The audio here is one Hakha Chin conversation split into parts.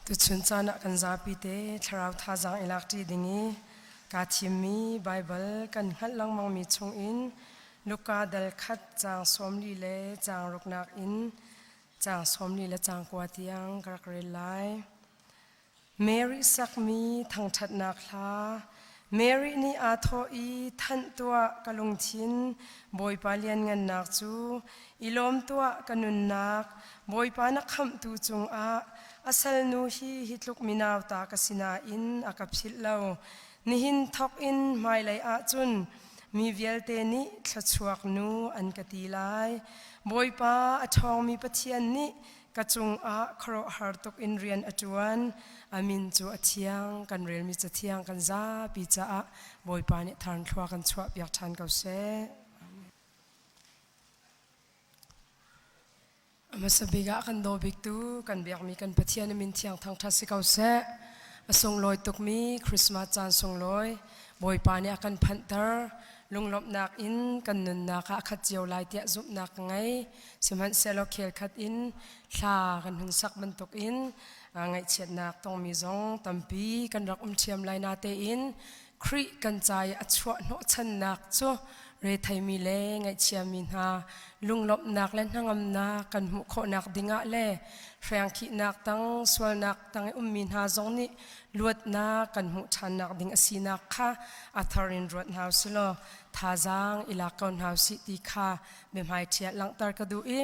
Tuchun caan ah kan zapite thlarau thazaang i lakṭi ding i kaa thimmi Baibal kan hngalh lengmangmi chungin Luka dal khat caang sawmli le caang ruknak in caang sawmli le caang kua tiang ka rak rel lai. Mary sakmi thangṭhatnak hla Mary nih aa thawh i, Thanh tuah, ka lungthin, Bawipa lianngannak cu, i lawm tuah, ka nunnak, Bawipa na khamhtu cungah, a salnu hi hi tluk minauta ka si nain a ka philh lo, nihin thawk in hmailei ah cun mi vialte nih thluachuak nu an ka ti lai, Bawipa a ṭhawngmi Pathian nih Ka cungah khuaruahhar tuk in rian a ṭuan. A min cu a thiang, kan relmi cathiang kan zapi caah Bawipa nih tharnthluak kan chuahpiak ṭhan ko seh. A hmasa bik ah kan daw biktu, kan biakmi kan Pathian a min thiang thangṭhat si ko seh. A sunglawi tukmi Christmas caan sunglawi Bawipa nih a kan phanhter. Lunglawmhnak in kan nunnak ah a khat cio lai tiah zumhnak ka ngei. Sihmanhsehlaw khelkhat in thla kan hun sak bantuk in ngaihchiatnak tongmi zong tampi kan rak um ṭhiam lai natein Khrih kan ca i a chuah hnawhchannak cu retheimi le ngaihchiami hna lunglawmhnak le hnangamnak kan hmuh khawhnak dingah le hriangkhihnak tang sualnak tang i ummi hna zong nih luatnak kan hmuh ṭhannak ding a sinak kha a thar in ruat hna u silaw thazaang i lak ko hna u sih ti kha Biahmaiṭhiah langhter ka duh i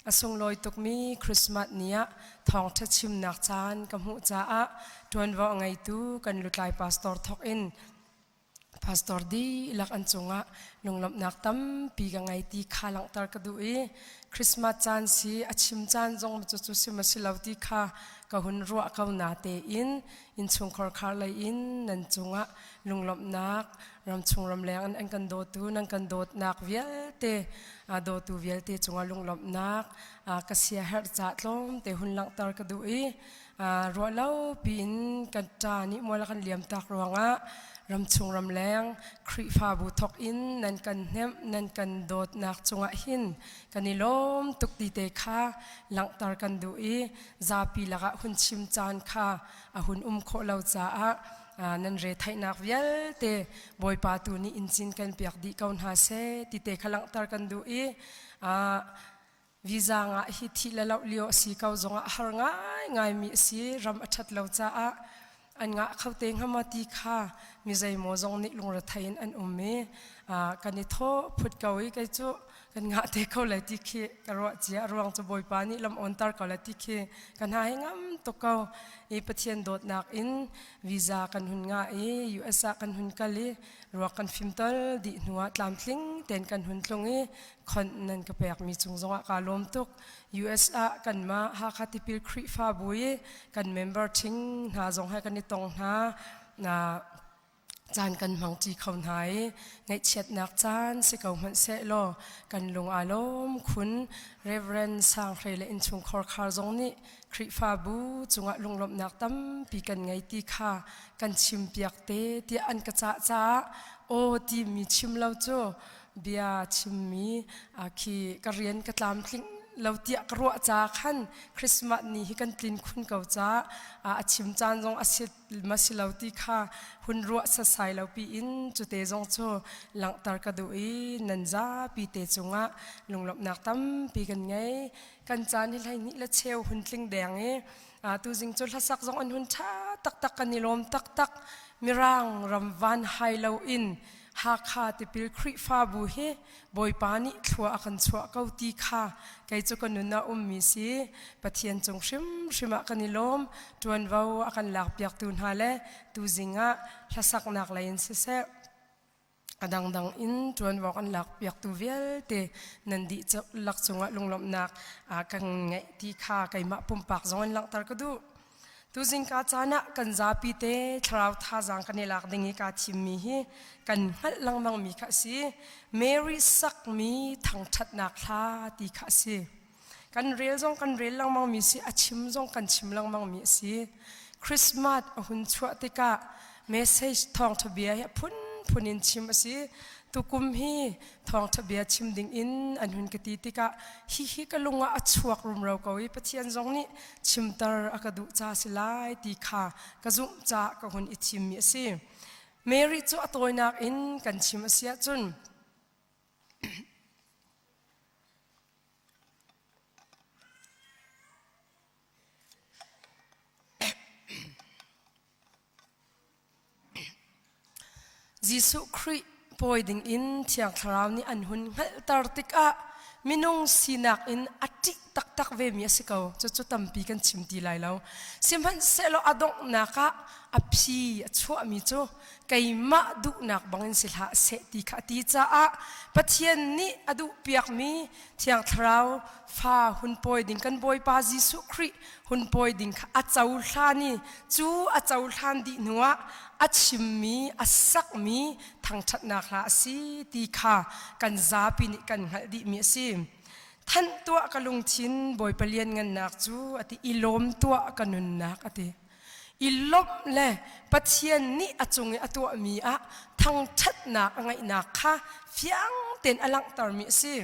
a sunglawi tukmi Christmas ni ah thawngṭha chimnak caan ka hmuh caah ṭuanvo a ngeitu kan lutlai pastor thawk in pastor dihlak an cungah lunglawmhnak tampi ka ngei ti kha langhter ka duh i Christmas caan si a chim caan zong cu cu sim a si lo ti kha ka hun ruah ko na tein innchungkhar khar lei in nan cungah lunglawmhnak ramchung ramleng an kan dawtu nan kan dawtnak vialte dawtu vialte cungah lunglawmhnak ka sia herh ca tlawmte hun langhter ka duh i ruahlo piin kan ta nih muala kan liam tak ruangah ramchung ramleng Khrihfabu thok in nan kan hnemh nan kan dawtnak cungah hin kan i lawm tuk ti te kha langhter kan duh i zapi lakah hun chim caan kha a hun um khawh lo caah nan retheihnak vialte bawipa tu nih incin kan piak dih ko hna se ti te kha langhter kan duh i visa ngah hi thih le loh lio a si ko zongah har ngai ngaimi a si ram a ṭhat lo caah an ngah kho te ngama ti kha mi zeimaw zong nih lungrethei in an um i kan i tho phut ko i kei cu kan ngah te kho le ti khi ka ruah cia ruang cu bawipa nih lam on tar ko le ti khi ka hna hi ngam tuk ko i pathian dawtnak in visa kan hun nga i US ah kan hun kal i ruak kan fim tol dih hnuah tlamtling ten kan hun tlung i khon nan ka pekmi cung zongah kaa lawm tuk US ah kanmah Hakha tipil Khrihfabu i kan member thing hna zong he kan i tong hna na caan kan hmang ti kho hna i ngaihchiatnak caan si ko hmanh seh law kan lung aa lawm khun Reverend Sanghlei le innchungkhar khar zong nih Khrihfabu cungah lunglawmhnak tampi kan ngei ti kha kan chimpiak te tiah an ka cah caah aw timi chim lo cu bia chimmi khi ka rian ka tlamtling lo tiah ka ruah ca khan Christmas ni hi kan tlin khun ko ca a chim caan zong a si ma si lo ti kha hun ruah sasai lo pi in cute zong cu langhter ka duh i nan zapi te cungah lunglawmhnak tampi kan ngei kan caan hi hlei nih le cheu hun tling deng i tu zing cu hlasak zong an hun tha taktak kan i lawm taktak mirang ram van hai lo in Hakha tipil Khrihfabu hi Bawipa nih thlua a kan chuah ko ti kha kei cu ka nun a ummi si Pathian cung hrimhrim ah kan i lawm ṭuanvo a kan lakpiaktu hna le tuzing ah hlasaknak lei in siseh a dangdang in ṭuanvo kan lakpiaktu vialte nan dih lak cungah lunglawmhnak kan ngeih ti kha keimah pumpak zong in langhter ka duh Tu zingka caan ah kan zapi te thlarau thazaang kan i lak ding i kaa thimmi hi kan hngalh lengmangmi kha a si. Mary sakmi thangṭhatnak hla ti kha a si. Kan rel zong kan rel lengmangmi si, a chim zong kan chim lengmangmi a si. Christmas a hun chuah tikah message thawngtha bia hi a phunphun in chim a si tukum hi thawngtha bia chim ding in an hun ka ti tikah hi hi ka lung ah a chuak rumro ko i pathian zong nih chimter a ka duh ca si lai ti kha ka zumh ca ka hun i thimmi a si Mary cu a tawinak in kan chim a si ahcun Jesuh Khrih pawi dingin Thiang Thlarau nih an hun hngalhter tikah minung sinak in a ṭih taktak vemi a si ko. Cucu tampi kan chim ti lai lo. Sihmanhsehlaw a donghnak ah a phi a chuahmi cu keimah duhnak bangin si hlah seh ti kha a ti caah Pathian nih a duhpiakmi Thiang Thlarau fa hun pawi ding kan Bawipa Jesuh Khrih hun pawi ding kha a cohlan i cu a cohlan dih hnuah a chimmi a sakmi thangṭhatnak hla a si ti kha kan zapi nih kan hngalh dihmi a si. Thanh tuah ka lungthin Bawipa lianngannak cu a ti i lawm tuah ka nunnak a ti. I lawmh le Pathian nih a cung i a tuahmi ah thangṭhatnak a ngeihnak kha fiang tein a langhtermi a si.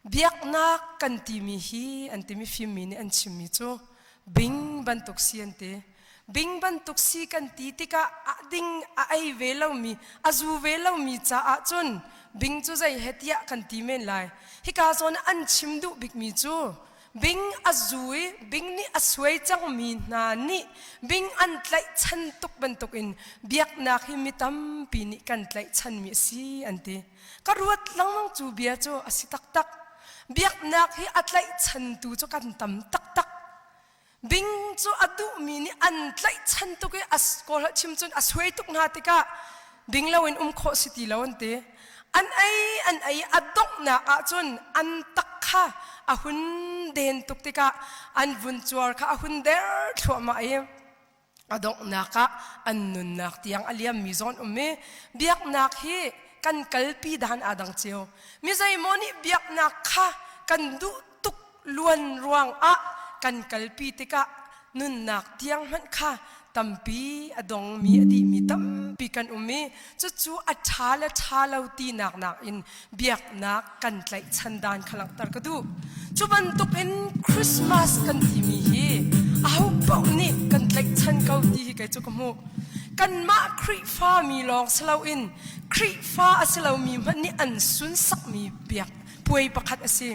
biaknak kan timi hi an timi fimmi nih an chimmi cu bing bantuk si an ti bing bantuk si kan ti tikah a ding a ei ve lomi a zu ve lomi caah cun bing cu zei he tiah kan ti men lai hika zawn an chim duh bikmi cu bing a zu i bing nih a suai cangmi hna nih bing an tlaihchan tuk bantukin biaknak hi mi tampi nih kan tlaihchanmi a si an ti ka ruat lengmang cu bia cu a si taktak biaknak hi a tlaihchantu cu kan tam taktak bing cu a duhmi nih an tlaihchan tuk i a kawl chim cun a suai tuk hna tikah bing loin um khawh si ti lo an ti an ei an ei a donghnak ahcun an tak kha a hun den tuk tikah an vun cuar kha a hun der thluahmah i a donghnak ah an nunnak tiang a liammi zawn um i biaknak hi kan kalpi dan aa dang cio mi zeimaw nih biaknak kha kan duh tuk luan ruang ah kan kalpi tikah nunnak tiang hmanh kha tampi a dongmi a dihmi tampi kan um i Cucu a ṭha le ṭha lo tinak nakin biaknak kan tlaihchan dan kha langhter ka duh. Cu bantuk in Christmas kan timi hi aho paoh nih kan tlaihchan ko ti hi kei cu ka hmuh. Kanmah Khrihfa mi lawng si loin Khrihfa a si lomi hmanh nih an sunsakmi biak puai pakhat a si.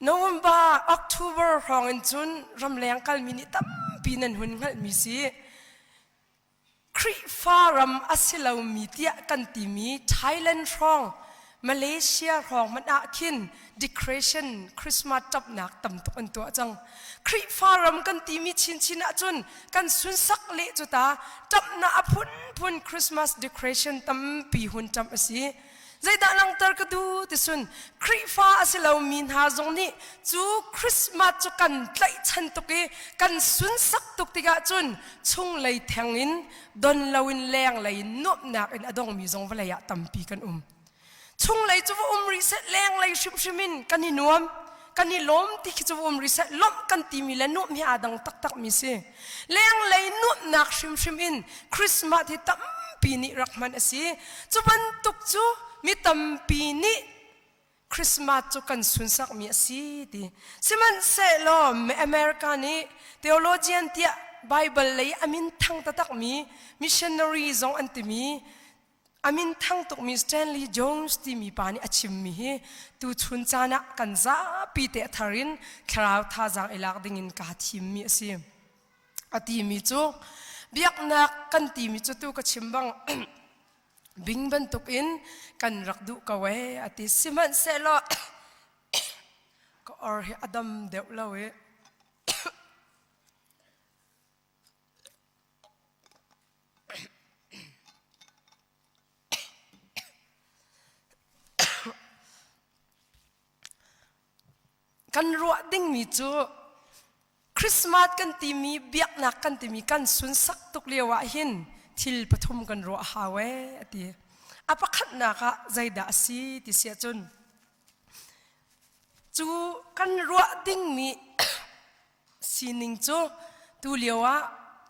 November, October hrawngin cun ramleng kalmi nih tampi nan hun hngalhmi si. Khrihfa ram a si lomi tiah kan timi Thailand hrawng Malaysia hrawng hmanh ah khin declaration Christmas ṭapnak tam tuk an tuah cang. Khrihfa ram kan timi chinchin ahcun kan sunsak leh cu ta ṭapnak a phunphun Christmas declaration tampi hun ṭamh a si. Zeidah langhter ka duh ti sun Khrihfa a si lomi hna zong nih cu Christmas cu kan tlaihchan tuk i kan sunsak tuk tikah cun chunglei theng in don loin lenglei in nuamhnak in a dongmi zong vawlei ah tampi kan um. Chunglei cu va um rih set lenglei hrimhrim in kan i nuam. kan i lawm ti khi cu um rih seh lawmh kan timi le nuamh hi aa dang taktak mi si lenglei nuamhnak hrimhrim in christmas hi tampi nih rak hman a si cu bantuk cu mi tampi nih christmas cu kan sunsak mi a si ti sihmanhsehlaw america nih theologian tiah bible lei a min thang taktak mi missionary zong an timi A minthang tukmi Stanley Jones timi pa nih a chimmi hi tuchun caan ah kan zapi te thar in thlarau thazaang i lak ding in kaa thimmi a si. A timi cu biaknak kan timi cu tu ka chim bang bing bantuk in kan rak duh ko ee a ti sihmanhsehlaw ka or hi a dam deuh lo i Kan ruah dingmi cu Christmas kan timi biaknak kan timi kan sunsak tuk lio ah hin thil pathum kan ruah hau ee a ti. A pakhatnak ah zeidah a si ti si ahcun cu kan ruah dingmi sining cu tulio ah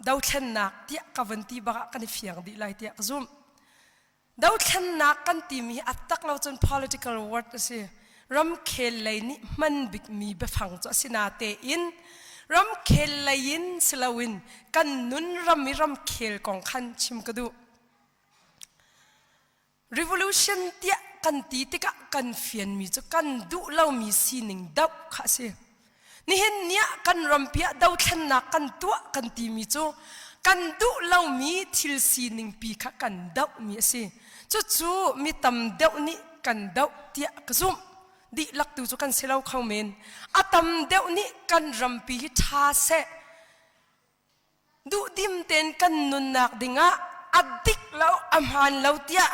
dothlennak tiah ka van ti bak ah kan i fiang dih lai tiah ka zumh. Dothlennak kan timi hi a tak lo cun political word a si. Ramkhel lei nih hman bikmi biafang cu a si natein ramkhel lei in si loin kan nun ram i ramkhel kong khan chim ka duh. revolution tiah kan ti tikah kan fianmi cu kan duh lomi sining doh kha a si nihin niah kan rampi ah dothlennak kan tuah kan timi cu kan duh lomi thil sining pi kha kan dohmi a si cucu mi tam deuh nih kan doh tiah ka zumh dihlak tu cu kan si lo kho men a tam deuh nih kan rampi hi ṭha seh duhdim tein kan nunnak dingah a dik lo a hmaan lo tiah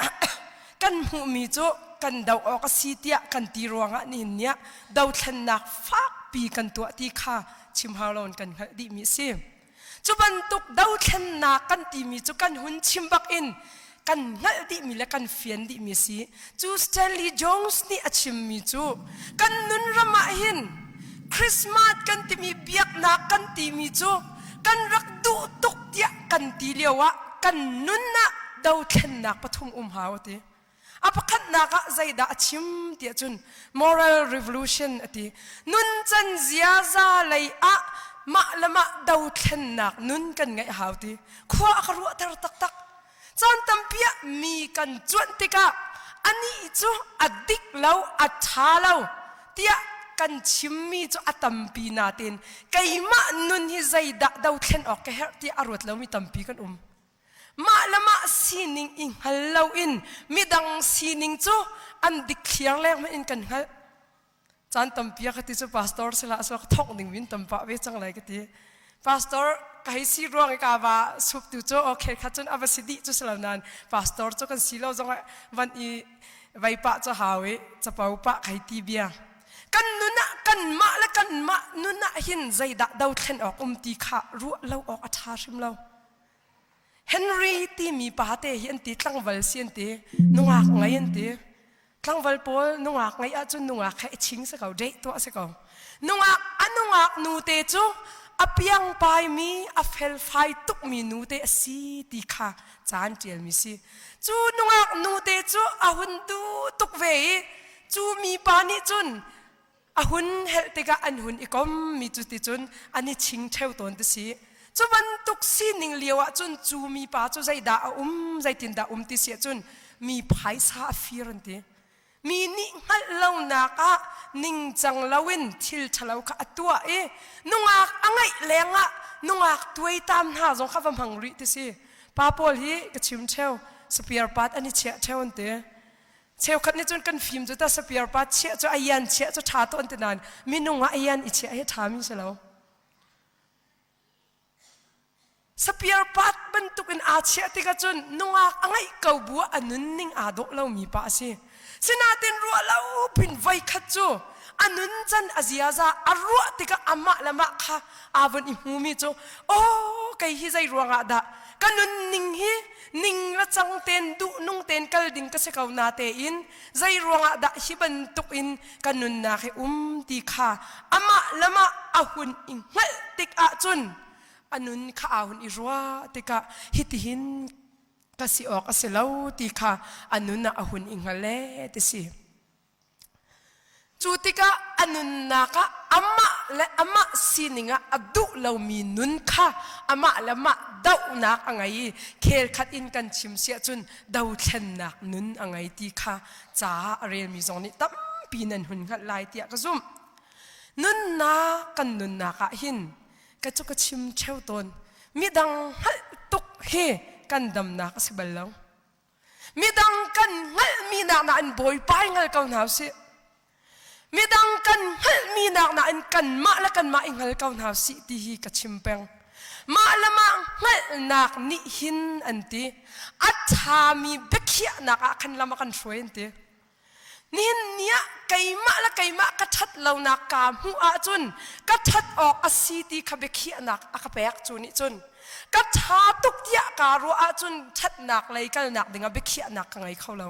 kan hmuhmi cu kan do awk a si tiah kan ti ruangah nihin niah dothlennak fakpi kan tuah ti kha chim hau loin kan hngalh dihmi a si. Cu bantuk dothlennak kan timi cu kan hun chim bakin kan hngalh dihmi le kan fian dihmi a si cu Stanley Jones nih a chimmi cu kan nunram ah hin Christmas kan timi biaknak kan timi cu kan rak duh tuk tiah kan ti lio ah kan nun ah dothlennak pathum um hau a ti a pakhatnak ah zeidah a chim tiah cun moral revolution a ti nun can ziaza lei ah mah le mah dothlennak nun kan ngeih hau ti khua a ka ruahter taktak Caan tampi ah mi kan cuanh tikah anih cu a dik lo, a ṭha lo tiah kan chimmi cu a tampi nain keimah nun hi zeidah do thlen awk ka herh tiah a ruat lomi tampi kan um. Mah le mah sining i hngal loin midang sining cu an dikthliar lengmang in kan hngalh. caan tampi ka ti cu pastor silah so ka thawk ning min tam pa ve cang lai ka ti pastor ka hei si ruang i ka va sup tu cu okay kha cun ava si dih cu silo nan pastor cu kan si lo zong van i vai pa cu hau i capo pa khai ti bia kan nun ah kan mah le kan mah nun ah hin zeidah do thlen awk um ti kha ruah lo awk a tha hrim lo Henry timi pate hi an ti tlangval si an ti nungak ngai an ti tlangval pawl nungak ngai ahcun nungak he ching si ko deh tuah si ko nungak a nungak nu te cu a piang paimi a felfai tukmi nu te a si ti kha caan ṭialmi si cu nungak nu te cu a hun du tuk ve i cu mipa nih cun a hun helh tikah an hun i kom mi cu ticun an i ching theo tawn ti si cu bantuk sining lio ah cun cu mipa cu zeidah a um zeitindah um ti si ahcun mi phaisa a fir an ti mi nih hngalh lonak ah ningcang loin thil ṭhalo kha a tuah i nungak a ngaih leng ah nungak tuaitam hna zong kha va hmang rih ti si pa pawl hi ka chim theo spare part an i chiah theo an ti Cheukhat nih cun kan fim cu tasapir pa chiah cu ayan chiah cu ṭha tawn ti nain minung ah ayan i chiah hi ṭhami si lo. Sapir pat bantukin aa chiah tikah cun nungak a ngeih ko bu ah a nunning aa dawh lomi pa a si. Sinain ruah lo pin voikhat cu a nun can a ziaza a ruah tikah amah le mah kha aa vun i hmumi cu aw kei hi zei ruangah dah ka nunning hi ning le cang tein duhnung tein kal ding ka si ko na tein zei ruangah dah hi bantuk in ka nunnak hi um ti kha amah lamah a hun i hngalh tik ahcun a nun kha a hun i rua tikah hitihin ka si awk a si lo ti kha a nun ah a hun i hngal le ti si. Cu tikah a nunnak ah amah le amah sining ah a duh lomi nun kha amah le amah dohnak a ngei i khelkhat in kan chim siah cun dothlennak nun a ngei ti kha caah a relmi zong nih tampi nan hun hngalh lai tiah ka zumh. Nunnak kan nunnak ah hin ka cu ka chim theo tawn midang hngalh tuk hi kan damnak a si bal lo. midang kan hngalhmi nak na in bawipa i hngal ko hna sih midang kan hngalhmi nak na in kanmah le kanmah i hngal ko hna sih ti hi ka chim peng mah le mah hngalhnak nih hin an ti a ṭhami biakhiahnak ah khan lam a kan hruai an ti Nihin ni ah keimah le keimah ka ṭhat lonak kaa hmuh ahcun ka ṭhat awk a si ti kha biakhiahnak a ka pek cu nih cun ka ṭha tuk tiah kaa ruah ahcun ṭhatnak lei kalnak dingah biakhiahnak ka ngei kho lo.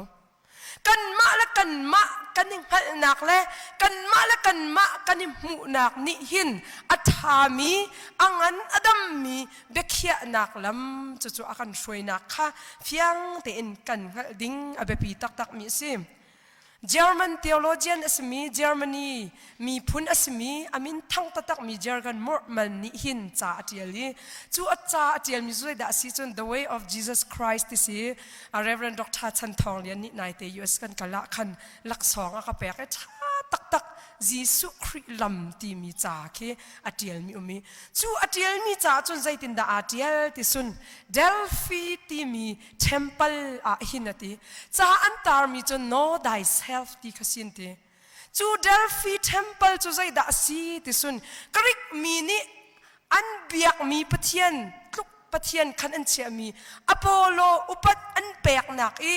Kanmah le kanmah kan i hngalhnak le kanmah le kanmah kan i hmuhnak nih hin a ṭhami, a ngan a dammi biakhiahnak lam cucu a kan hruainak kha fiang tein kan hngalh ding a biapi taktakmi a si. German theologian a simi Germany miphun a simi a min thang taktakmi Jürgen Murman nih hin ca a ṭial i cu a ca a ṭialmi cu zeidah a si cun The Way of Jesus Christ ti si Reverend Dr. Chan Thawng Lian nih naite US kan kal ah khan laksawng a ka pek i ṭha taktak Jesuh Khrih lam timi ca khi a ṭialmi um i cu a ṭialmi caah cun zeitindah aa ṭial ti sun Delphi timi temple ah hin a ti ca an tarmi cu know thyself ti kha sin ti cu Delphi temple cu zeidah a si ti sun Greek mi nih an biakmi pathian tluk pathian khan an chiahmi Apollo upat an peknak i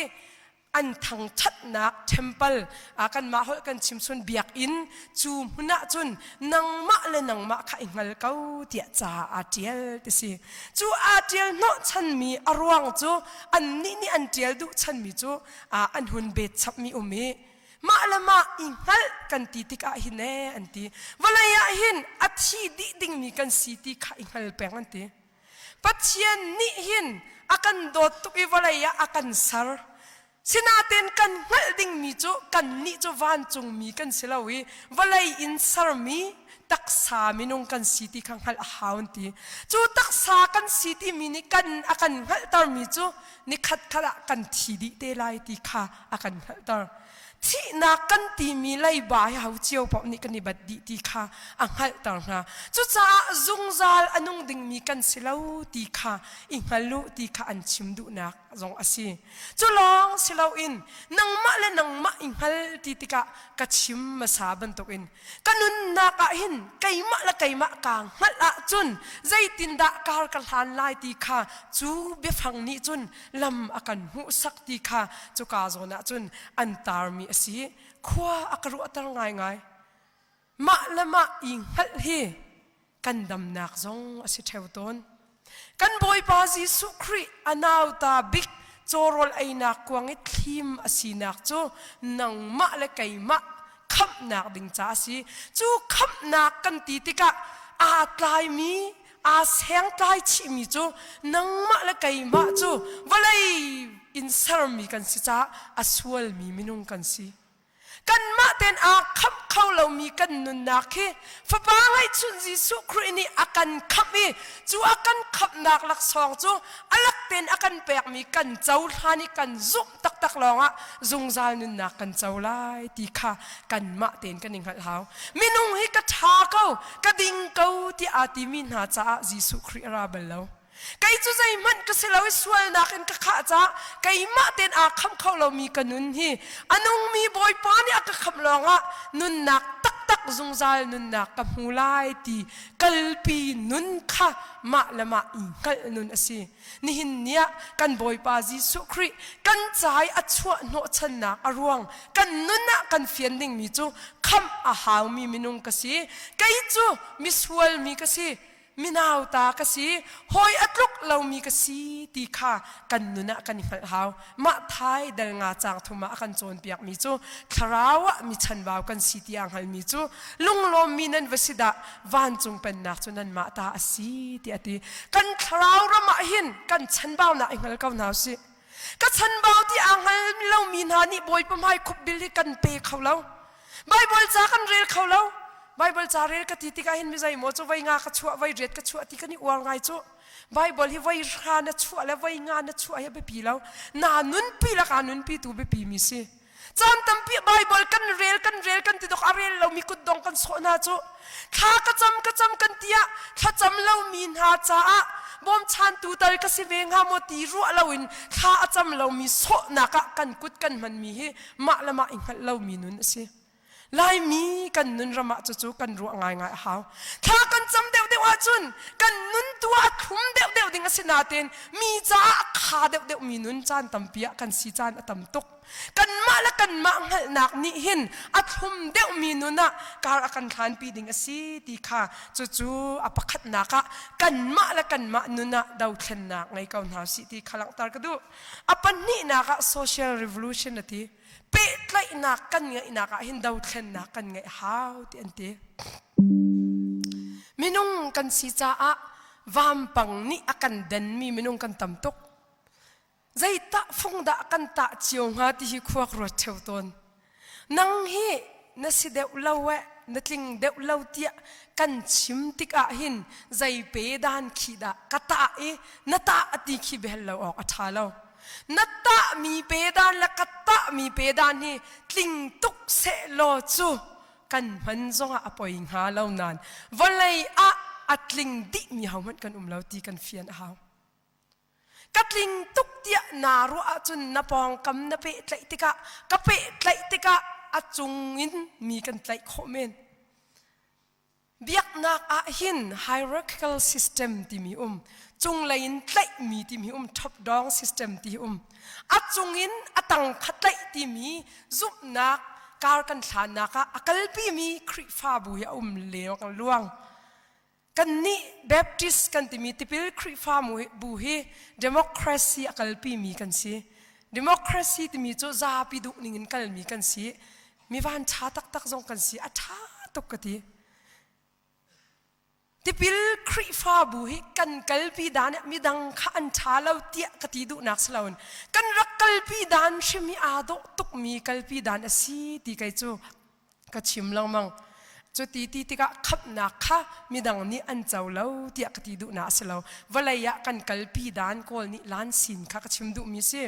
an thangthatnak temple ah kanmah holh kan chimchun biak in cu hmun ah cun nangmah le nangmah kha i hngal ko tiah ca aa tial ti si cu aa tial hnawhchanmi a ruang cu annih nih an tial duh chanmi cu an hun bet chapmi um i mah le mah i hngalh kan ti tikah hin e an ti vawlei ah hin a thi dih dingmi kan si ti kha i hngal peng an ti Pathian nih hin a kan dawt tuk i vawlei ah a kan ser. Sinaten kan hngalh dingmi cu kannih cu vancungmi kan si lo i vawlei in sermi taksa minung kan si ti kha hngalh a hau an ti. Cu taksa kan si timi nih kan a kan hngalhtermi cu nikhat khat ah kan thi dih te lai ti kha a kan hngalhter. Thihnak kan timi leiba hi ho cio paoh nih kan i bat dih ti kha a hngalhter hna. Cucaah zungzal a nung dingmi kan si lo ti kha i hngal u ti kha an chim duhnak zong a si. Cu lawng si loin nangmah le nangmah i hngal ti tikah ka chim hmasa bantukin ka nunnak ah hin keimah le keimah kaa hngalh ahcun zeitindah kar ka hlan lai ti kha cu biafang nih cun lam a kan hmuhsak ti kha cuka zawn ah cun an tarmi a si. Khua a ka ruahter ngaingai. Mah le mah i hngalh hi kan damnak zong a si theo tawn. Kan Bawipa Jesuh Khrih a nauta bik cawrawl einak kuang i thlim a sinak cu nangmah le keimah khamhnak ding ca a si. Cu khamhnak kan ti tikah aa tlaimi aa sengtlai chihmi cu nangmah le keimah cu vawlei in sermi kan si caah a sualmi minung kan si. Kanmah tein aa khamh kho lomi kan nunnak hi Fapa ngeihchunh Jesuh Khrih nih a kan khamh i cu a kan khamhnak laksawng cu a lak tein a kan pekmi kan cohlan i kan zumh taktak lawngah zungzal nunnak kan co lai ti kha kanmah tein kan i hngalh hau. Minung hi ka ṭha ko, ka ding ko ti aa timi hna caah Jesuh Khrih a ra bal lo. Kei cu zeihmanh ka si lo i sualnak in ka khah caah keimah tein aa khamh kho lomi ka nun hi a nungmi Bawipa nih a ka khamh lawngah nunnak taktak zungzal nunnak ka hmu lai ti kalpi nun kha mah le mah i hngalh nun a si. Nihin ni ah kan Bawipa Jesuh Khrih kan ca i a chuah hnawhchannak a ruang, kan nun ah kan fian dingmi cu khamh a haumi minung ka si. Kei cu misual mi ka si, minauta ka si, hawi a tluk lomi ka si ti kha kan nun ah kan i hngalh hau. Mah Thai dal nga caang thum ah a kan cawnpiakmi cu thlarau ah mi chanbau kan si tiah a hngalmi cu lunglawmmi nan va si dah, vancung pennak cu nanmah ta a si tiah a ti. Kan thlarau ram ah hin kan chanbaunak i hngal ko hna usih. Ka chanbau ti aa hngal lomi hna nih Bawipa hmai khupbil hi kan pe kho lo. Baibal ca kan rel kho lo. Baibal ca rel ka ti tikah hin mi zeimaw cu voi nga ka chuah, voi riat ka chuah ti kan i uar ngai cuh. Bible hi voi hra na chuah le voi nga na chuah hi biapi lo. Na nunpi laka nunpi tu biapi mi si. Caan tampi Bible kan rel kan rel kan ti dok a rel lo mi kut dong kan sawh hna cu. Thla ka cam ka cam kan tia thlacam lo mi hna caah bawm chan tu tal ka si ve hnga maw ti ruah lo in thla a cam lo mi sawhnak ah kan kut kan hman mi hi mah le mah i hngalh lo mi nun a si. Laimi kan nunram ah cucu kan ruah ngaingai a hau. Thla kan cam deuhdeuh ahcun kan nun tu ah a thlum deuhdeuh ding a si nain mi caah a kha deuhdeuh mi nun caan tampi ah kan si caan a tam tuk. Kanmah le kanmah hngalhnak nih hin a thlum deuh mi nun ah kar a kan thlanpi ding a si ti kha cucu a pakhatnak ah kanmah le kanmah nun ah dothlennak ngei ko hna sih ti kha langhter ka duh. A pahnihnak ah social revolution a ti. pehtlaihnak kan ngeihnak ah hin dothlennak kan ngeih hau ti an ti minung kan si caah vampang nih a kan denmi minung kan tam tuk zeitah fungdah kan tah cio hnga ti hi khuak ruat theo tawn nang hi na si deuh lo e na tling deuh lo tiah kan chim tik ah hin zei pe dan khi dah ka tah i na tah a ti khi behel lo awk a tha lo na tahmi pedan le ka tahmi pedan hi tling tuk sehlaw cu kan hman zongah a poi hnga lo nan vawlei ah a tling dihmi hohmanh kan um lo ti kan fian a hau ka tling tuk tiah naa ruah ahcun na pawngkam na peh tlaih tikah ka peh tlaih tikah a cung in mi kan tlaih khawh men biaknak ah hin hierarchical system timi um cunglei in tlaihmi timi um top down system ti um a cung in a tang kha tlaih timi zumhnak kar kan thlanak ah a kalpimi Khrihfabu i a um leo kan luang kan nih Baptist kan timi tipil Khrihfabu hi democracy a kalpimi kan si democracy timi cu zapi duh ning in kalmi kan si Mi vanṭha taktak zong kan si. A ṭha tuk ka ti. Tipil Khrihfabu hi kan kalpi dan ah midang kha an ṭha lo tiah ka ti duhnak si loin kan rak kalpi dan hrim hi aa dawh tukmi kalpi dan a si ti kei cu ka chim lengmang. Cu ti ti tikah khamhnak kha midang nih an co lo tiah ka ti duhnak a si lo. Vawlei ah kan kalpi dan kawl nih lan sin kha ka chim duhmi si.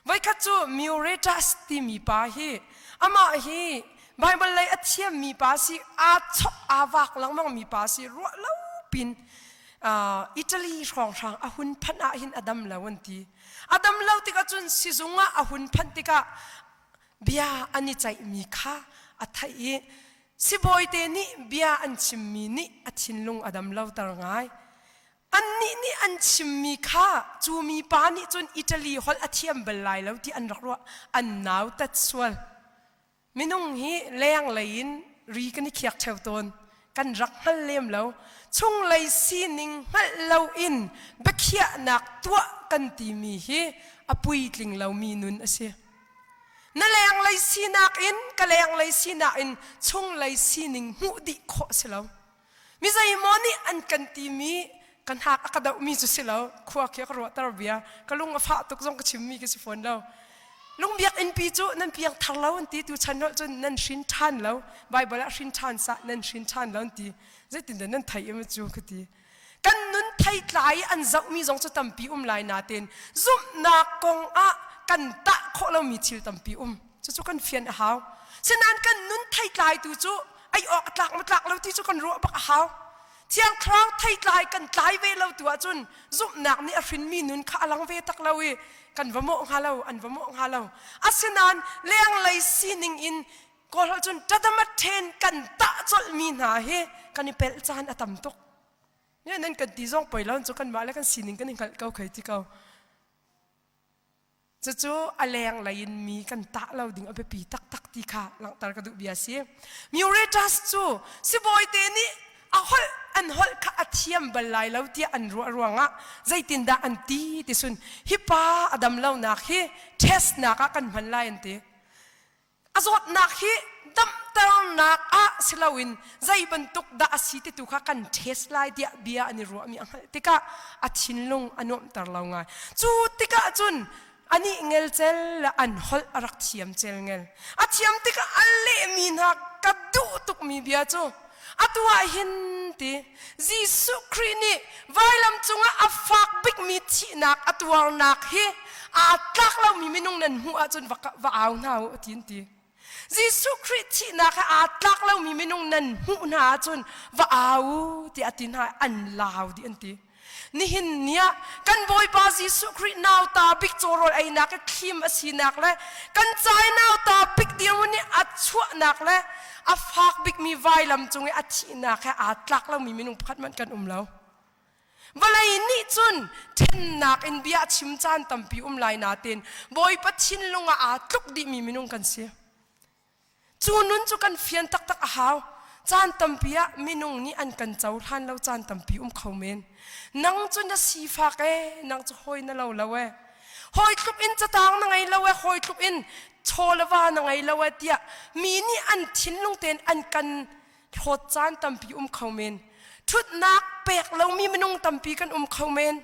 Voikhat cu Mioretas timi pa hi amah hi Baibal lei a thiammi pa si, aa chok aa vak lengmangmi pa si, ruah lo pin Italy hrawnghrang a hun phanh ah hin a dam lo an ti. A dam lo tikah cun sizung ah a hun phanh tikah bia an i ceihmi kha a theih i sibawi te nih bia an chimmi nih a thinlung a dam loter ngai. Annih nih an chimmi kha cu mipa nih cun Italy holh a thiam bal lai lo ti an rak ruah. An nautat sual. Minung hi lenglei in ri kan i khiak ṭheo tawn. Kan rak hngal lem lo. Chunglei sining hngalh loin biakhiahnak tuah kan timi hi a puitling lomi nun a si. Na lenglei sinak in ka lenglei sinak in chunglei sining hmuh dih khawh a si lo. Mi zeimaw nih an kan timi ka hnak a ka dohmi cu si lo khua khi ka ruahter bia ka lung a fah tuk zong ka chimmi khi si fawn lo lung biakinnpi cu nan piang thar lo an ti tu chan lo cun nan hrin ṭhan lo baibal ah hrin ṭhan sa nan hrin ṭhan lo an ti zeitindah nan thei im cu ka ti kan nun theitlai an zohmi zong cu tampi um lai natein zumhnak kong ah kan tah khawh lomi thil tampi um cucu kan fian a hau sinain kan nun theitlai tu cu ei awk a tlak matlak lo ti cu kan ruah bak a hau. Thiang Thlarau theitlai kan tlai ve lo tu ahcun zumhnak nih a hrinmi nun kha a lang ve tak lo i kan va mawh hnga lo an va mawh hnga lo. Asinain lenglei sining in kawlholh cun ṭadamat ṭhen kan tah colhmi hna hi kan i pelh caan a tam tuk. Ne nan kan ti zong poi lo cu kanmah le kan sining kan i hngalh ko khei ti ko. Cucu a lenglei in mi kan tah lo ding a biapi taktak ti kha langhter ka duh bia si. Muratus cu sibawite nih a holh an holh kha a thiam bal lai lo tiah an ruah ruangah zeitindah an ti ti sun hi pa a dam lonak hi test nak ah kan hman lai an ti. A zawtnak hi damternak ah si loin zei bantuk dah a si ti tu kha kan test lai tiah bia an i ruahmi a hngalh tikah a thinlung a nuamhter lo ngai. Cu tikah cun anih ngelcel le an holh a rak thiam cel ngel. A thiam tikah a lehmi hna ka duh tukmi bia cu Atu ah hin ti Jesuh Khrih nih vailam cungah a fak bikmi thihnak a tuarnak hi aa tlak lomi minung nan hmuh ahcun va, va au hna u a ti ti. Jesuh Khrih thihnak he aa tlak lomi minung nan hmuh hna ahcun va au tiah a ti hna an lau di an ti. Nihin ni ah kan Bawipa Jesuh Khrih nauta bik cawrawl einak i thlim a sinak le kan cai nauta pik dirhmun i a chuahnak le a fak bikmi vailam cung i a thihnak he aa tlak lomi minung pakhat hmanh kan um lo. Vawlei nih cun ṭhennak in bia a chim caan tampi um lai nain Bawipa thinlung ah aa tluk dihmi minung kan si. Cu nun cu kan fian taktak a hau. Caan tampi ah minung nih an kan cohlan lo caan tampi um kho men. Nang cu na sifak ee, nang cu hawi na lo lo ee. Hawi tluk in catang na ngei lo ee, hawi tluk in chawlava na ngei lo ee tiah mi nih an thinlung tein an kan hlawt caan tampi um kho men. Ṭhutnak pek lomi minung tampi kan um kho men.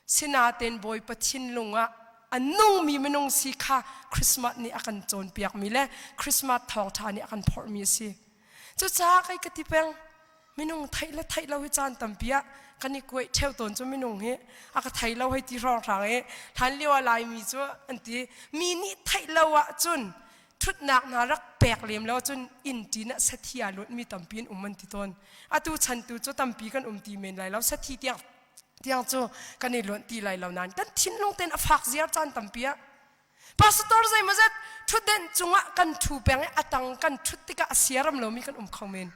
Sinain Bawipa thinlung ah a nungmi minung si kha Christmas nih a kan cawnpiakmi le Christmas thawngṭha nih a kan phorhmi a si. Cucaah kai ka ti peng, minung theih le theih lo hi caan tampi ah kan i kuaih ṭheu tawn cu minung hi a ka thei lo hei ti hrawnghrang i hlan lio ah Laimi cu an ti mi nih theih lo ahcun ṭhutnak hna rak pek lem lo cun innṭin ah sathi aa luatmi tampi an um an ti tawn. Atu chan tu cu tampi kan um ti men lai lo. Sathi tiang tiang cu kan i luan ti lai lo nain kan thinlung ten a fak ziar caan tampi ah pastor zei ma zet thutden cungah kan thu peng i atang kan thut tikah a siaram lomi kan um kho men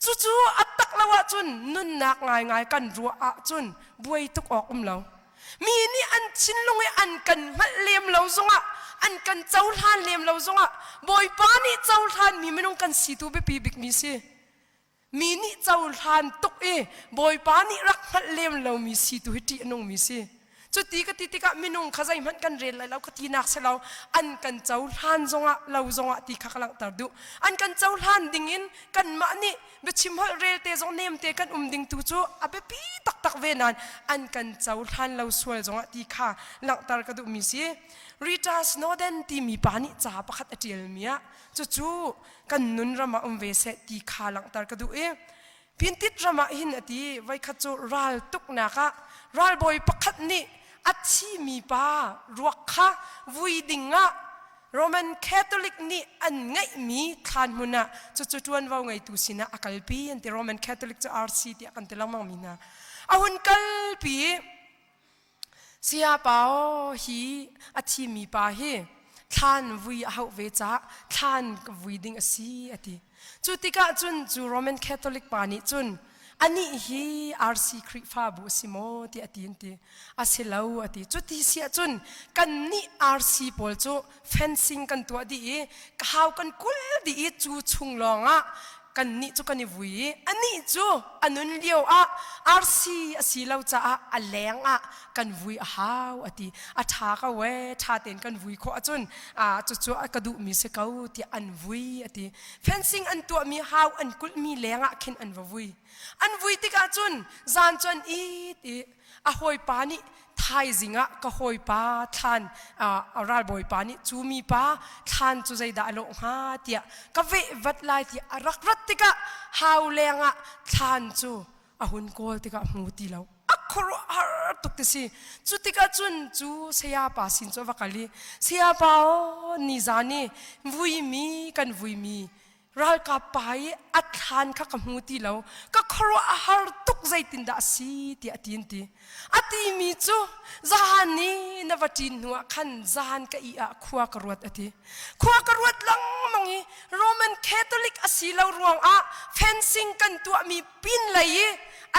cucu attak lo ahcun nunnak ngaingai kan ruah ahcun buai tuk awk um lo mi nih an chinlung i an kan hngalh lem lo zongah an kan cohlan lem lo zongah bawipa nih cohlan mi minung kan si tu biapi bikmi si mi nih cohlan tuk i bawipa nih rak hngalh lem lomi si tu hi ṭih a nungmi si cuti ka ti tikah minung kha zeihmanh kan rel lai lo ka tinak si lo an kan cohlan zongah lo zongah ti kha ka langhter duh an kan cohlan dingin kanmah nih biachim holh relte zong nemte kan um ding tu cu a biapi taktak ve nain an kan cohlan lo sual zongah ti kha langhter ka duhmi si Rita Snowden timi pa nih ca pakhat a ṭialmi ah Cucu kan nun ram ah um ve seh ti kha langhter ka duh i Pintit ram ah hin a ti. Voikhat cu raltuknak ah ralbawi pakhat nih a thimi pa ruak kha vui ding ah Roman Catholic nih an ngeihmi thlanhmun ah cucu ṭuanvo ngeitu sinah a kalpi an ti. Roman Catholic cu RC tiah kan ti lengmangmi hna. A hun kalpi i Saya Pao hi a thimi pa hi thlan vui a hauh ve caah thlan vui ding a si a ti. Cu tikah cun cu Roman Catholic pa nih cun anih hi RC Khrihfabu a si maw tiah a ti an ti. A si lo a ti. Cu ti si ahcun kannih RC pawl cu fencing kan tuah dih i ka hau kan kul dih i cu chung lawngah kannih cu kan i vui i anih cu a nun lio ah arsi a si lo caah a leng ah kan vui a hau a ti a ṭha ka we ṭha tein kan vui khawh ahcun ah cucu ka duhmi si ko tiah an vui a ti fencing an tuahmi hau an kulhmi lengah khin an va vui an vui tikah cun zan cu an it i a hawipa nih thaizing ah ka hawipa thlan a ralbawipa nih cu mipa thlan cu zeidah a lawh hnga tiah ka vehvat lai tiah a rak rat tikah hau leng ah thlan cu a hun kawl tikah hmu ti lo a khuaruahhar tuk ti si cu tikah cun cu sayapa sin cu va kal i sayapa o ni zan i vui mi kan vui mi ralkap pa i a thlan kha ka hmu ti lo ka khuaruah a har tuk zeitindah a si tiah a ti ti a ti mi cu zahan ni na va ṭin hnuah khan zahan ka i ah khua ka ruat a ti khua ka ruat lengmang i Roman Catholic a si lo ruangah fencing kan tuah mi pin lei i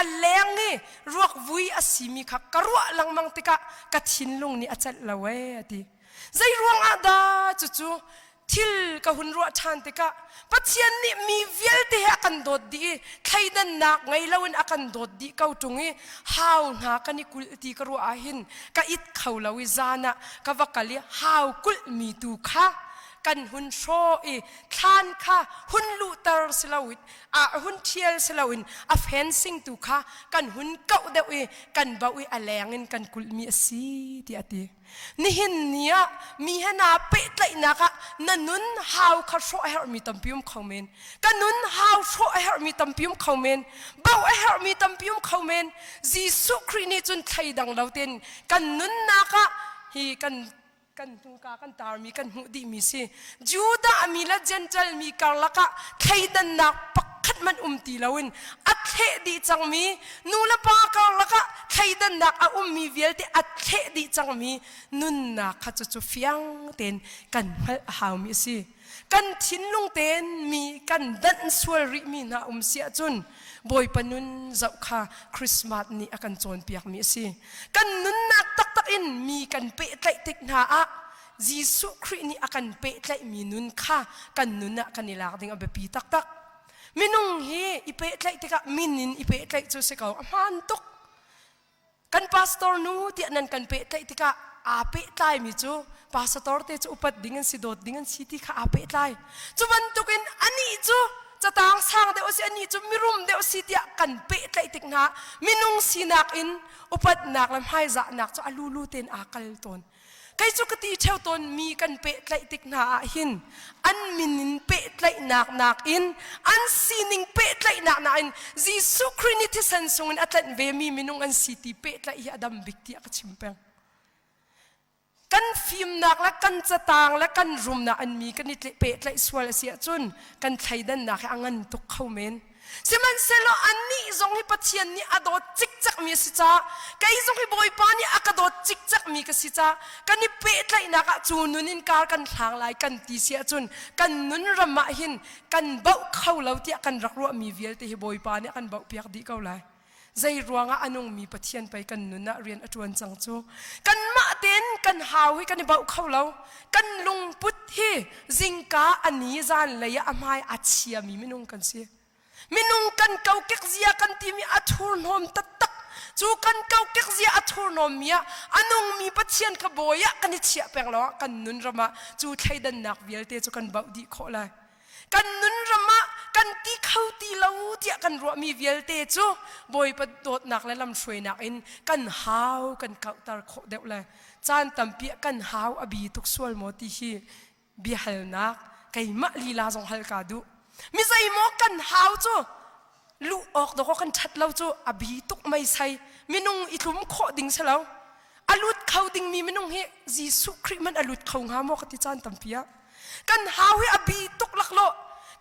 a leng i ruak vui a si mi kha ka ruah lengmang tikah ka thinlung nih a celh lo ee a ti zei ruangah dah cucu thil ka hun ruah ṭhan tikah Pathian nih mi vialte he a kan dawt dih i thleidannak ngei loin a kan dawt dih ko ṭung i hau hna kan i kulh ti ka ruah ahhin ka it kho lo i zan ah ka va kal i hau kulhmi tu kha kan hun hrawh i thlan kha hun luhter si loin a hun ṭhial si loin a fencing tu kha kan hun kauh deuh i kan bauh i a leng in kan kulhmi a si tiah a ti. Nihin ni ah mi he naa pehtlaihnak ah na nun hau kha hrawh a herhmi tampi um kho men. Ka nun hau hrawh a herhmi tampi um kho men. Bauh a herhmi tampi um kho men. Jesuh Khrih nih cun thleidang lo ten kan nunnak ah hi kan kan hnuka kan tarmi kan hmuh dihmi si. Judah mi le Jentail mi karlak ah thleidannak pakhat hmanh um ti loin a thleh dih cangmi, nulepa karlak ah thleidannak a ummi vialte a thleh dih cangmi nunnak kha cucu fiang tein kan hngalh a haumi a si. Kan thinlung tein mi kan danh sual rihmi hna um si ahcun Bawipa nun zoh kha Christmas nih a kan cawnpiakmi a si. Kan nunnak taktak in mi kan pehtlaih tik hna ah Jesuh Khrih nih a kan pehtlaihmi nun kha kan nun ah kan i lak ding a biapi taktak. Minung hi i pehtlaih tikah min in i pehtlaih cu si ko. A hmaan tuk. Kan pastor nu tiah nan kan pehtlaih tikah aa pehtlaimi cu pasator te cu upat ding an si, dawt ding an si ti kha aa pehtlai. Cu bantukin anih cu catang sang deuh a si, anih cu mirum deuh a si tiah kan pehtlaih tik hna minung sinak in upatnak le hmaizahnak cu a lulu tein aa kal tawn. Kei cu ka ti theo tawn mi kan pehtlaih tik hna ah hin an min in pehtlaihnak nakin an sining pehtlaihnak nakin Jesuh Khrih nih thisen sungin a tlanh ve mi minung an si ti pehtlaih hi a dam bik tiah ka chim peng. Kan fimnak le kan catang le kan rumnak in mi kan i pehtlaih sual a si ahcun kan thleidannak hi a ngan tuk kho men. Sihmanhsehlaw annih zong hi Pathian nih a dawt cikcekmi a si caah kei zong hi Bawipa nih a ka dawt cikcekmi ka si caah kan i pehtlaihnak ah cu nun in kar kan hlang lai kan ti si ahcun kan nun ram ah hin kan baoh kho lo tiah kan rak ruahmi vialte hi Bawipa nih a kan baohpiak dih ko lai. Zei ruangah a nungmi Pathian pei kan nun ah rian a ṭuan cang cu. Kanmah tein kan hau hi kan i bauh kho lo. Kan lungput hi zingka a ni zan lei ah a hmai a chiami minung kan si. Minung kan kokek zia kan timi a thurhnawm taktak. Cu kan kokek zia a thurhnawmmi ah a nungmi Pathian kha bawi ah kan i chiah peng lawngah kan nun ram ah cu thleidannak vialte cu kan bauh dih khawh lai. kan nunram ah kan ti kho ti lo tiah kan ruahmi vialte cu Bawipa dawtnak le lamhruainak in kan hau kan kauhter khawh deuh le caan tampi kan hau a bi tuk sual maw ti hi biahalnak keimah lila zong hal ka duh mi zeimaw kan hau cu luh awk dawk kan ṭhat lo cu a bi tuk mei sai minung i tlum khawh ding si lo a lut kho dingmi minung hi Jesuh Khrih man a lut kho hnga maw ka ti caan tampi ah kan hau hi a bi tuk laklaw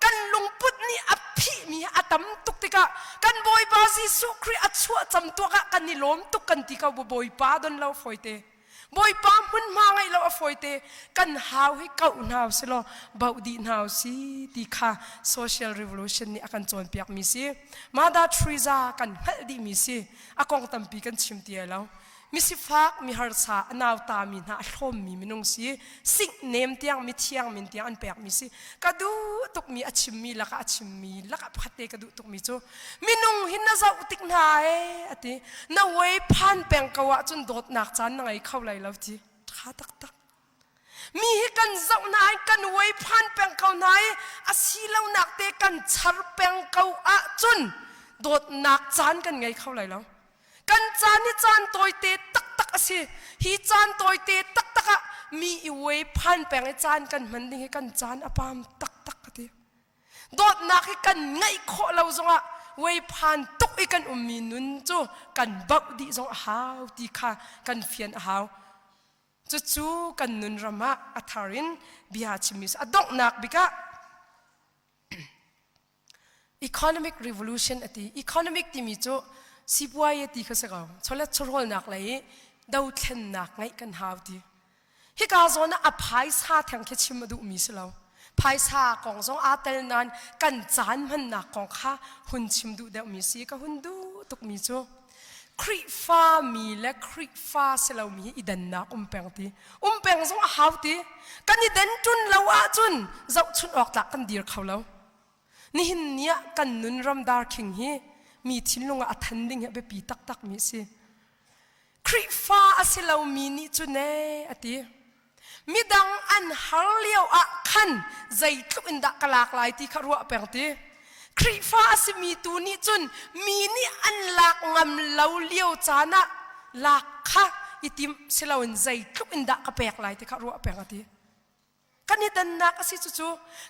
kan lungput nih a phihmi a tam tuk tikah kan Bawipa Jesuh Khrih a chuah cam tuak ah kan i lawm tuk kan ti ko bu Bawipa don lo fawite Bawipa hmunhma ngeih lo a fawite kan hau hi kauh hna si law bauh dih hna si ti kha social revolution nih a kan cawnpiak mi si. Mother Teresa kan hngalh dih mi si. A kong tampi kan chim ti ai lo. Misifak, miharsa, a nauta mi hna a thlawm mi minung si. sik nem tiang mithiang min tiang an pekmi si ka duh tukmi a chimmi lakah a chimmi lakah pakhat te ka duh tukmi cu minung hi na zoh tik hna e a ti na wei phan peng ko ahcun dawtnak caan na ngei kho lai lo ti ṭha taktak mi hi kan zoh hna i kan wei phan peng ko hna i a silonak te kan char peng ko ahcun dawtnak caan kan ngei kho lai lo kan caan hi caan tawite taktak a si hi caan tawite taktak ah mi i uai phan peng i caan kan hman ding hi kan caan a pam taktak ka ti dawtnak hi kan ngeih khawh lo zongah uai phan tuk i kan ummi nun cu kan bauh dih zong a hau ti kha kan fian a hau cucu kan nun ram ah a thar in bia chimmi a donghnak bikah economic revolution ati economic timi cu sipuai ti kha si ko cholet chawrawlnak lei i dothlennak ngeih kan hau ti hika zawn a phaisa theng khi chim a duh mi si lo phaisa kong zong aa tel nan kan caan hmannak kong kha hun chim duh deuh mi si ka hun duh tuk mi cu Khrihfa mi le Khrihfa si lomi hi i dannak um peng ti. Um peng zong a hau ti. Kan i den ṭun lo ahcun zohchunh awk tlak kan dir kho lo. Nihin ni ah kan nun ramdar khing hi mi thinlung ah a than ding hi a biapi taktakmi a si. Khrihfa a si lomi nih cune a ti. Midang an har lio ah khan zeitluk in dah ka lak lai ti kha ruah peng ti. Khrihfa a simi tu nih cun mi nih an lak ngam lo lio caan ah lak kha i tim siloin zeitluk in dah ka pek lai ti kha ruah peng a ti. Kan i dannak a si cucu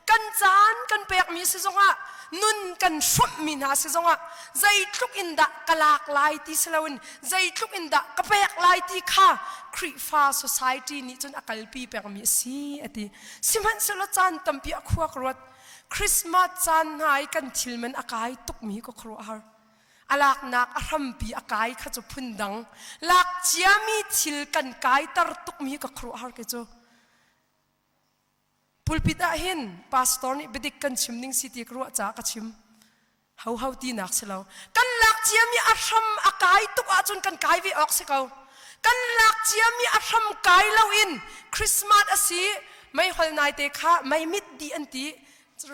kan caan kan pekmi si zongah nun kan hrawmhmi hna si zongah zeitluk in dah ka lak lai ti si loin zeitluk in dah ka pek lai ti kha Khrihfa society nih cun a kalpi pengmi a si a ti sihmanhsehlaw caan tampi a khuak ruat Christmas caan hna i kan thil man a kai tukmi ka khuaruahhar a laknak a hrampi a kai kha cu phundang lak ciami thil kan kai tar tukmi ka khuaruahhar ke cu Pulpit ah hin pastor nih biadik kan chim ning si ti ka ruah caah ka chim. Hoho tinak si lo. Kan lak ciam i a hram a kai tuk ahcun kan kai ve awk si ko. Kan lak ciam i a hram kai lo in Christmas a si mei hol nai te kha mei mit di an ti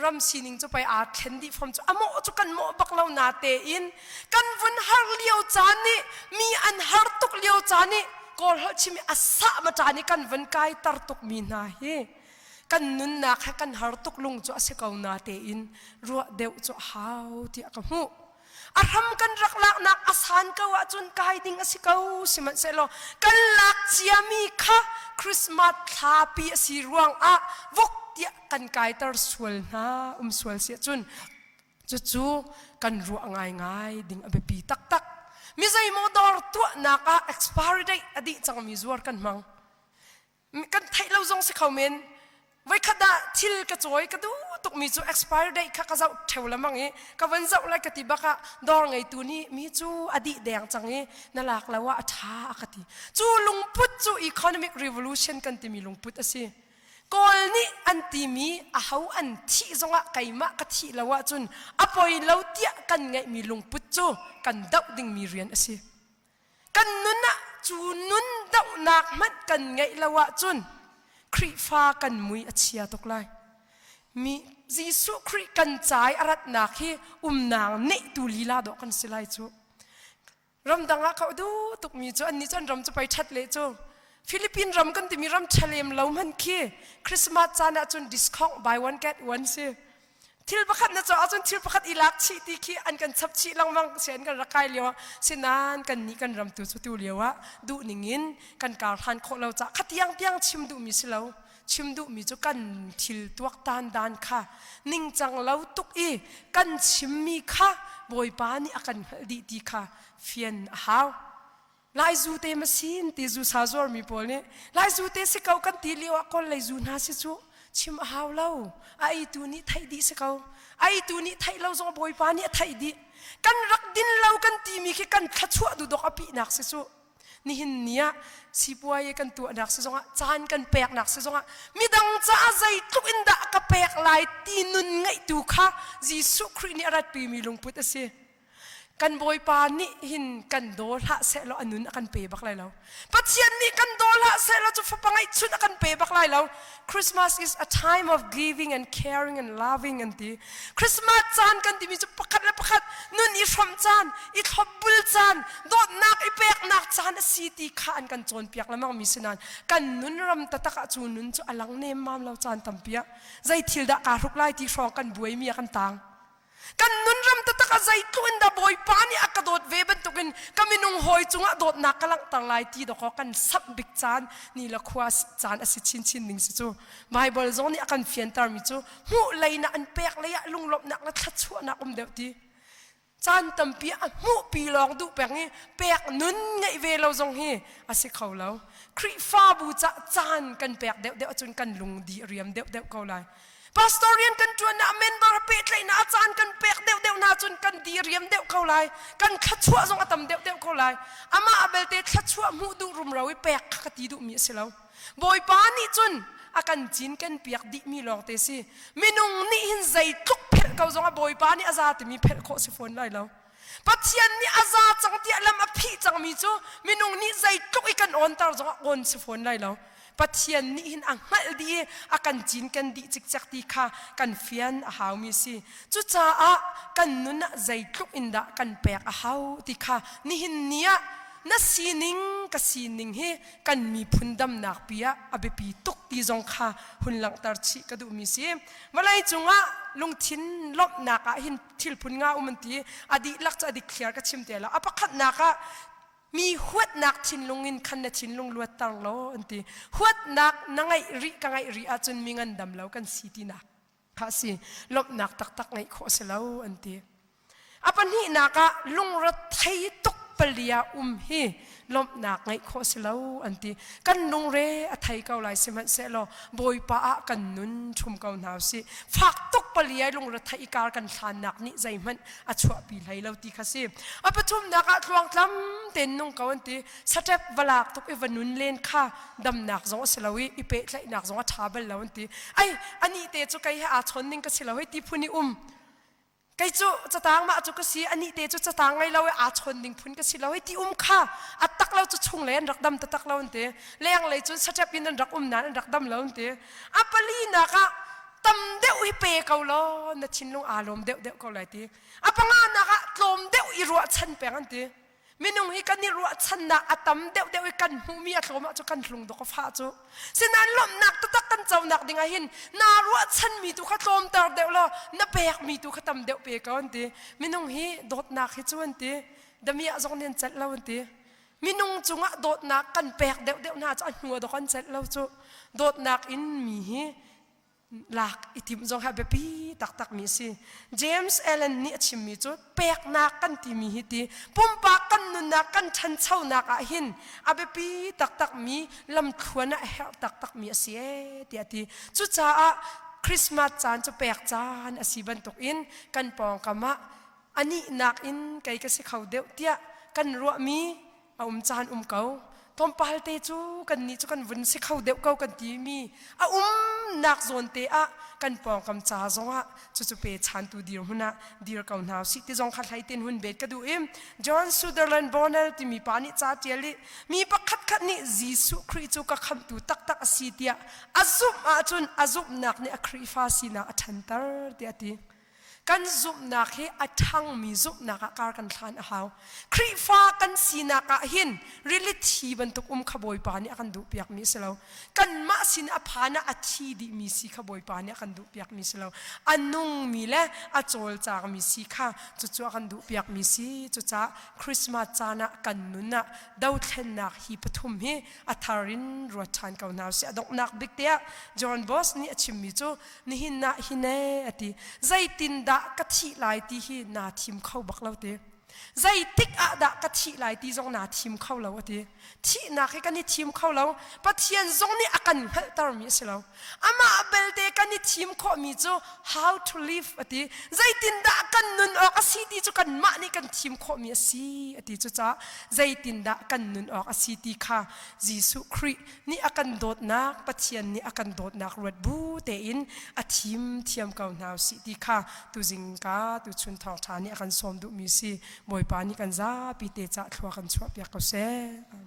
ram sining cu pei aa thlen dih fom cu amawh cu kan mawh bak lo na te in kan vun har lio caan nih mi an har tuk lio caan i kawl holh chim i asa ma caan i kan vun kai tar tuk mi hna hi kan nunnak he kan har tuk lung cu a si ko na tein ruah deuh cu hau tiah ka hmuh a hram kan rak laknak a san ko ahcun kai ding a si ko sihmanhsehlaw kan lak cia mi kha christmas thlapi a si ruang ah vok tiah kan kaitar sual hna um sual si ahcun cucu kan ruah ngaingai ding a biapi taktak mi zeimaw dawr tuahnak ah expiry date a dih cangmi zuar kan hmang kan theih lo zong si kho men voikhat dah thil ka cawi ka duh tukmi cu expiry date kha ka zoh theo lamang i ka van zoh lai ka ti bakah dawr ngeitu nih mi cu a dih deng cang i na lak lo ah a tha a ka ti cu lungput cu economic revolution kan timi lungput a si Kawl nih an timi aho an thih zongah keimah ka thih lo ahcun a poi lo tiah kan ngeihmi lungput cu kan doh dingmi rian a si. Kan nun ah cu nun dohnak hmanh kan ngeih lo ahcun Khrihfa kan mui a chia tuk lai. Mi Jesuh Khrih kan cai a ratnak hi umnak neihtu lila dawh kan si lai cu. ramdang ah ka duh tukmi cu annih cu an ram cu pei ṭhat le cu Philippine ram kan timi ram ṭha lem lo hman khi Christmas caan ah cun discount buy one get one si thil pakhat na caah cun thil pakhat i lak chih ti khi an kan chap chih langmang si an kan rakai lio ah sinan kan nih kan ram tu cu tu lio ah duh ning in kan kar hlan khawh lo cah khatiang piang chim duhmi si lo chim duhmi cu kan thil tuaktan dan kha ningcang lo tuk i kan chimmi kha Bawipa nih a kan hngalh dih ti kha fian a hau. Lai zu te ma sin ti zu sa zuarmi pawl nih lai zu te si ko kan ti lio ah kawl lei zu hna si cu chim a hau lo a eitu nih theih dih si ko a eitu nih theih lo zong Bawipa nih a theih dih kan rak din lo kan timi khi kan thluachuah dudok a pihnak si cu Nihin ni ah sipuai kan tuahnak si zongah, caan kan peknak si zongah, midang caah zeitluk in dah ka pek lai ti nun ngeihtu kha Jesuh Khrih nih a ratpimi lungput a si. Kan Bawipa nih hin kan daw hlah sehlaw a nun a kan pe bak lai lo. Pathian nih kan daw hlah sehlaw cu fapa ngeihchun a kan pe bak lai lo. Christmas is a time of giving and caring and loving an ti. Christmas caan kan timi cu pakhat le pakhat nun i hrom caan, i thlopbul caan, dawtnak i peknak caan a si ti kha an kan cawnpiak lemang mi si nain kan nun ram tatak ah cu nun cu a lang nem mam lo caan tampiak. Zei thil dah kaa hruk lai ti hrawng kan buai mi a kan tang. Kan nunram taktak ah zeitluk in dah Bawipa nih a ka dawt ve bantukin ka minung hawi cungah dawtnak ka langhter lai ti dawk kan samh bik caan ni le khua caan a si chinchin ning si cu Baibal zong nih a kan fiantermi cu hmuh leinak an pek lei ah lunglawmhnak le thluachuahnak um deuh ti caan tampi a hmuhpi lawng duh peng i pek nun ngeih ve lo zong hi a si kho lo Khrihfabu cah caan kan pek deuhdeuh ahcun kan lungdi a riam deuhdeuh ko lai Pastor rian kan ṭuannak member pehtlaihnak a caan kan pek deuhdeuh hna cun kan diriam deuh ko lai. Kan thluachuah zong a tam deuhdeuh ko lai. Amah belte thluachuah hmuh duh rumro i pek kha ka ti duhmi a si lo. Bawipa nih cun a kan cinken piak dihmi lawngte si. Minung nih hin zeitluk phelh ko zongah Bawipa nih a za timi phelh khawh si fawn lai lo. Pathian nih a za cang tiah lam a phih cangmi cu minung nih zeitluk i kan awnter zongah awn si fawn lai lo. Pathian nih hin a hngalh dih i a kan cinken dih cikcek ti kha kan fian a haumi si. Cucaah kan nun ah zeitluk in dah kan pek a hau ti kha nihin ni ah na sining ka sining hi kan miphun damnakpi ah a biapi tuk ti zong kha hun langhter chih ka duhmi si. Vawlei cungah lungthin lawmhnak ah hin thil phun nga um an ti a dihlak cu a dik thliar ka chim te lo a pakhatnak ah mi huatnak thinlung in khan na thinlung luatter law an ti huatnak na ngaih rih ka ngaih rih ahcun mi ngandam lo kan si ti nak kha si lawmhnak taktak ngeih khawh si lo an ti a pahnihnak ah lungre thei tuk palia um hi lawmhnak ngeih khawh si lo an ti kan lungre a thei ko lai sihmanhsehlaw bawipa ah kan nun ṭhum ko hna usih fak tuk pali ai lungre thei kar kan hlannak nih zeihmanh a chuahpi hlei lo ti kha si a pathumnak ah tluang tlam tein nung ko an ti saṭep va lak tuk i va nun len kha damnak zong a si lo i i pehtlaihnak zong a ṭha bal lo an ti ai anih te cu kei he aa chawn ning ka si lo hei ti phun i um kei cu cataang mah cu ka si anih te cu cataang ngei lo i aa chawn ding phun ka si lo hi ti um kha a tak lo cu chung lei an rak dam tatak lo an ti leng lei cun satep in an rak um nain an rak dam lo an ti a pali nak ah tam deuh hi pe ko law na thinlung aa lawm deuh deuh ko lai ti a panga nak ah tlawm deuh i ruahchan peng an ti minung hi kan i ruahchannak a tam deuhdeuh i kan hmuhmi a thlawm ah cu kan hlungdok a fah cu sinain lawmhnak taktak kan conak ding ah hin naa ruahchanmi tu kha tlawmter deuh law na pekmi tu kha tam deuh pe ko an ti minung hi dawtnak hi cu an ti damiah zong nih an celh lo an ti minung cungah dawtnak kan pek deuhdeuh hna cu a hnu dok an celh lo cu dawtnak in mi hi lak i timh zong hi biapi taktakmi a si james allen nih a chimmi cu peknak kan timi hi ti pumpak kan nunnak kan ṭhanchonak ah hin a biapi taktakmi lamthluan ah a herh taktakmi a si e tiah ti cucaah Christmas caan cu pek caan a si bantukin kan pawngkam ah a nihnak in kei ka si kho deuh tiah kan ruahmi a um caan um ko tlawmpal te cu kannih cu kan vun si kho deuh ko kan timi a umnak zawn te ah kan pawngkam ca zongah cucu pe chantu dir hun ah dir ko hna si ti zong kha hlai ten hun bet ka duh im John Sutherland Bonner timi pa nih ca tial i mi pakhat khat nih Jesuh Khrih cu ka khamtu taktak a si tiah a zumh ahcun a zumhnak nih a Khrihfa sinak a ṭhanter tiah a ti Kan zumhnak hi a ṭhangmi zumhnak ah kar kan hlan a hau. Khrihfa kan sinak ah hin rilithi bantuk um kha Bawipa nih a kan duhpiakmi a si lo. Kanmah sin a phan ah a thi dihmi si kha Bawipa nih a kan duhpiakmi si lo. A nungmi le a cawlcangmi si kha cucu a kan duhpiakmi si. Cucaah Christmas caan ah kan nun ah dothlennak hi pathum hi a thar in ruat ṭhan ko hna usih. A donghnak bik tiah John Bos nih a chimmi cu nihin ah hi ne a ti zeitindah ka thih lai ti hi naa thim kho bak lo ti zeitik ah dah ka thih lai ti zong naa thim kho lo a ti thihnak hi kan i thim kho lo pathian zong nih a kan hngalhter mi a si lo amah belte kan i thim khawhmi cu how to live a ti zeitindah kan nun awk a si ti cu kan mah nih kan thim khawhmi a si a ti cu ca zeitindah kan nun awk a si ti kha Jesuh Khrih nih a kan dawtnak Pathian nih a kan dawtnak ruat bu tein a thim thiam ko hna usih ti kha tuzing ka tuchun thawngṭha nih a kan sawm duhmi si Bawipa nih kan zapi te cah thlua kan chuahpiak ko seh. Amen.